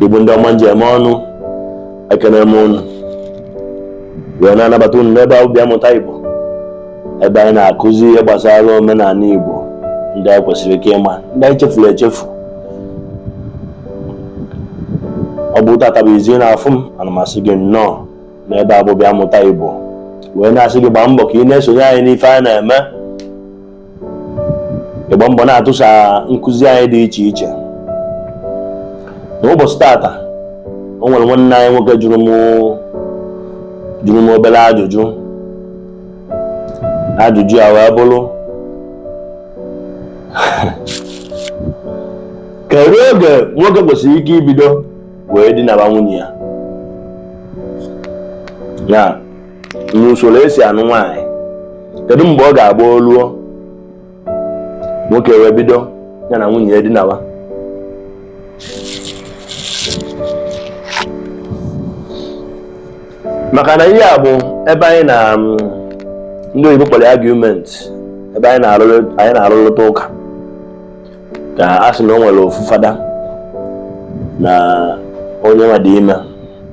igbo ndị ọma m ji eme ọnụ ekene m unu wee na-anabata unu n'ebe a bụ bịa mụta igbo ebe anyị na-akụzi ihe gbasara omenala igbo ndị anyị kwesịrị ike ịma ndị anyị chefuru echefu ọ bụ tata bụ izizi ị na-afụ m ana m asị gị nnọọ n'ebe a bụ bịa mụta igbo wee na-asị gị gbaa mbọ ka ị na-esonye anyị n'ife anyị na-eme ịgba mbọ na-atụsa nkụzi anyị dị iche iche n'ụbọchị tata o nwere nwanne anyị nwoke jụrụ m obere ajụjụ ajụjụ a wee bụrụ kedu oge nwoke kwesịrị ike ibido wee dinaba nwunye ya ya n'usoro e si anụ nwaanyị kedu mgbe ọ ga-agba o luo nwoke wee bido ya na nwunye ya dinawa maka na ihe a bụ ebe anyị na mm, ndị oyibo kpọrọ argument ebe anyị na-arụrịta ụka ka a sị na o nwere ofu fada na onye nwa dị ime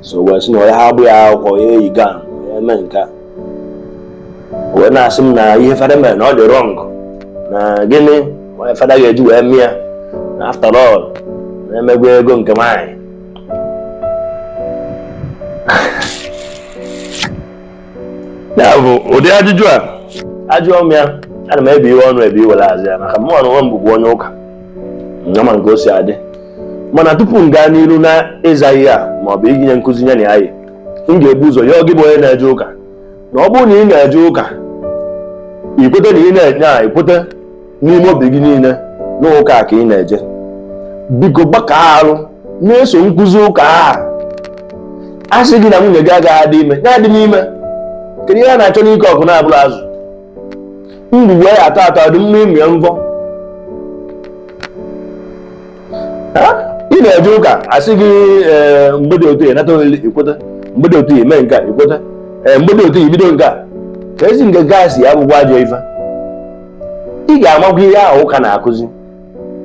so wee sị na onye ha agbaghị akwụkwọ ya eyi ga ya eme nke a wee na-asị m na ihe fada mere na ọ dị wrong na gịnị ka fada ga-eji wee mee ya na after all na e megwa ego nke nwaanyị ya bụ ụdị ajụjụ a a jụọ m ya ana m ebiwe ọnụ ebiwe were aza ya maka mụ onwe m bụbu onye ụka ama m ke o si adị mana tupu m gaa n'iru na ịza ihe a ma ọ bụ inye nkụzi ya na ya yi m ga-ebu ụzọ yọọ gị bụ onye na-eje ụka na ọ bụrụ na ị na-eje ụka i kweta na ị na-eje ya i kweta n'ime obi gị niile n'ụka a ka ị na-eje biko gbaka arụ na-eso nkụzi ụka ahụ a sị gị na nwunye gị agaghị adị ime ya adịna ime kedu ihe a na-achọ n'ike ọkụ na-abụrọ azụ ndụ wee atọ atọ dị mma ịmụ ya mvọ ị na-eje ụka a sị gị eh, mgbe dị otu a nata olili i kweta mgbe dị otu a eme nke a i kweta eh, mgbe dị otu a i bido nke a ka ezi nke ga-asị ya bụkwa ajọ ife ị ga-amagwa ihe ahụ ụka na-akụzi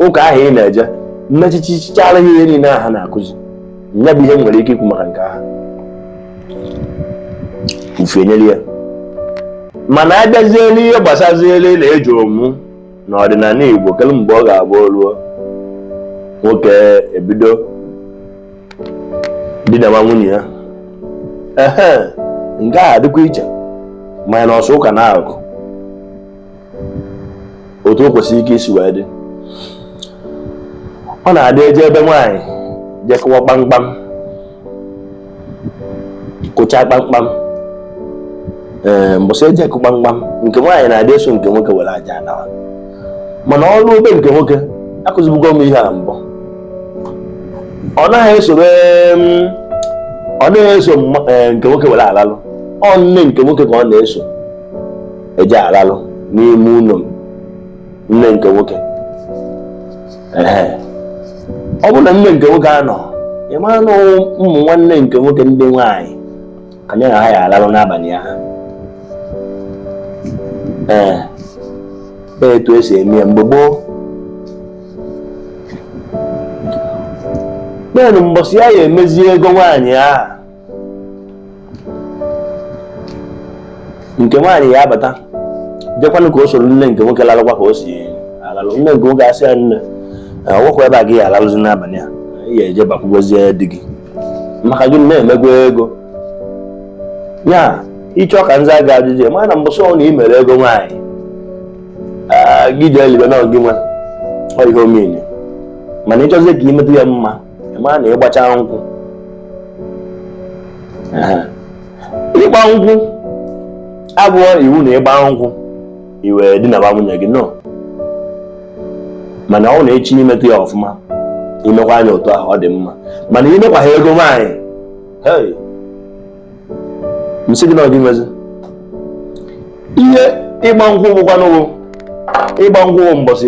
ụka ahụ ị na-eje mmechichichara ihe niile aha na-akụzi ya bụ ihe m nwere ike ikwu maka nke ahụ ufe nyere ya mana a bịazie n'ihe gbasaziere na eji omu na ọdịnala Igbo kedu mgbe ọ ga-abụ o luo nwoke ebido dinaba nwunye ya ehe nke ahụ dịkwa iche mana ọ sọ ụka na-agụ otu o kwesịrị ike isi wee dị ọ na-adị eje ebe nwaanyị je kụọ kpamkpam kụchaa kpamkpam ee mbọsị eje akụ kpamkpam nke nwaanyị na-adị eso nke nwoke were aja anawa mana o ruo be nke nwoke akụzibugo m ihe a mbụ ọ naghị esobe ọ naghị eso eh, nke nwoke were alalụ ọ nne nke nwoke ka ọ na-eso eje alalụ n'ime ụlọ nne nke nwoke ọ bụ na nne nke nwoke anọ ị mara na ụmụ nwanne nke nwoke ndị nwaanyị ka nya na ha ya alalụ n'abalị ahụ ee etu esi eme ya mgbe gboo naanị mbọsị a ya emezi ego nwaanyị ahụ nke nwaanyị ya abata jekwanụ ka o soro nne nke nwoke lalụkwa ka o si alalụ nne nke nwoke asị ya nne ọ bụkwa ebe a ka ị ya alalụzi n'abalị a ị ya eje bakwugozie di gị maka gịnị na e mego ego ya ị chọ ka m zaa gị ajụjụ a mana mbọsị ọnụ ị mere ego nwaanyị gị jee libe na gị nwe ihe omeni mana ị chọzie ka i meta ya mma ị ma na ị gbacha nkwụ ịgba nkwụ abụọ iwu na ị gbaa nkwụ i wee dinaba nwunye gị no mana ọ bụrụ na ị chọ imeta ya ọfụma i mekwaa nya otu ahụ ọ dị mma mana i mekwa ha ego nwaanyị hey m sị gị na ọ gị nwezi ihe ịgba nkwụ bụkwanụ ịgba nkwụ mbọsị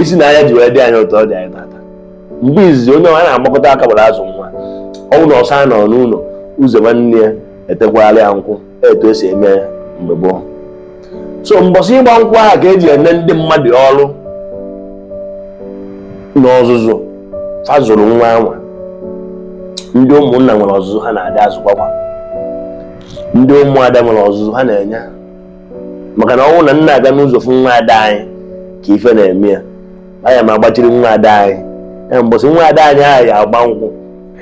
isi na anya ji wee dị anyị ụtọ ọ dị anyị tata mgbe izizi onye ọha na-agbakọta aka gbara azụ nwa ọ wụ na ọsa nọ n'ụlọ ụzọ nwanne ya etekwala ya nkwụ etu esi eme ya mgbe gboo so mbọsị ịgba nkwụ ahụ ka eji ene ndị mmadụ ọrụ n'ọzụzụ fa zụrụ nwa a nwa ndị ụmụnna nwere ọzụzụ ha na-adị azụkwakwa ndị ụmụada nwere ọzụzụ ha na-enye maka na ọ wụ na m na-aga n'ụzọ fụ nwa ada anyị ka ife na-eme ya aya m agbachiri nwa ada anyị ya mbọsị nwa ada anyị ahụ ya agba nkwụ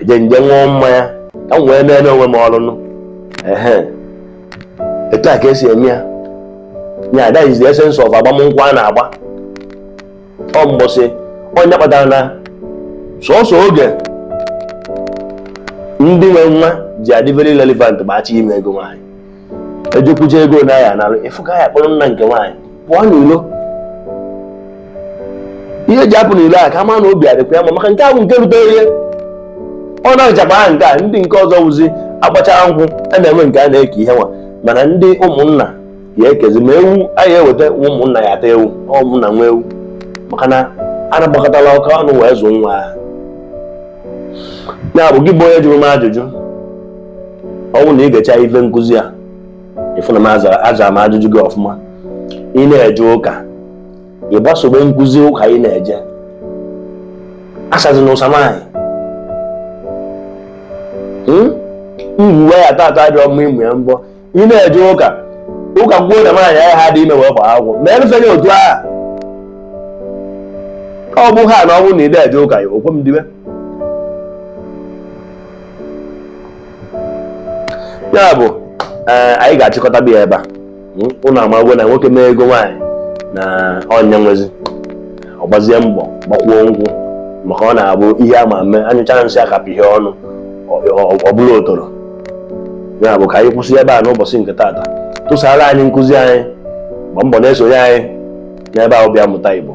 eje m je ṅụọ mmanya ka m wee nenee onwe m ọlụnụ ehe etu a ka esi eme ya ya that is the essence of agbamnkwụ a na-agba ọ mbọsị ọ nya kpatara na sọsọ oge ndị nwe nwa ji adị very relevant ma a chọ ime ego nwaanyị ejekwuje ego na ya nalụ ị fụ ka ya kpọrọ nna nke nwaanyị pụọ n'ilo ihe e ji apụ n'ilo a ka a ma na obi adịkwa ya mma maka nke ahụ nke rutere ihe ọ na-achakwa aha nke a ndị nke ọzọ wụzi a gbachara nkwụ a na-enwe nke a na-eke ihe nwa mana ndị ụmụnna ya ekezi ma ewu anyị eweta ụmụnna ya ata ewu ụmụnna nwe ewu maka na a na-agbakọtala aka ọnụ wee zụọ nwa ahụ ya bụ gị bụ onye jụrụ m ajụjụ ọ bụrụ na ị gecha ife nkụzi a ị fụ na m azara m ajụjụ gị ọfụma ị na-eje ụka ị gbasobe nkụzi ụka ị na-eje asazi na ụsa nwaanyị mgbuwe ya tata dị ọma ịmụ ya mbọ ị na-eje ụka ụka kwuo na nwaanyị ahụ ha dị ime wee gbaa akwụkwọ ma erụfeghị otu aha ọ bụ ha na ọ bụrụ na ị na-eje ụka ya o kwe m dibe ya bụ eh, anyị ga-achịkọta bie ya ebe a ụnụ hmm? amagwo na nwoke mee ego nwaanyị na ọ ya nwezi ọ gbazie mbọ gbakwuo nkwụ maka ọ na-abụ ihe ama mma anyụcha nsị akapị ya ọnụ ọ bụla otoro ya bụ ka anyị kwụsị ebe a n'ụbọchị nke taata tụsara anyị nkụzi anyị gbaa mbọ na-esonye anyị n'ebe ahụ bịa mụta Igbo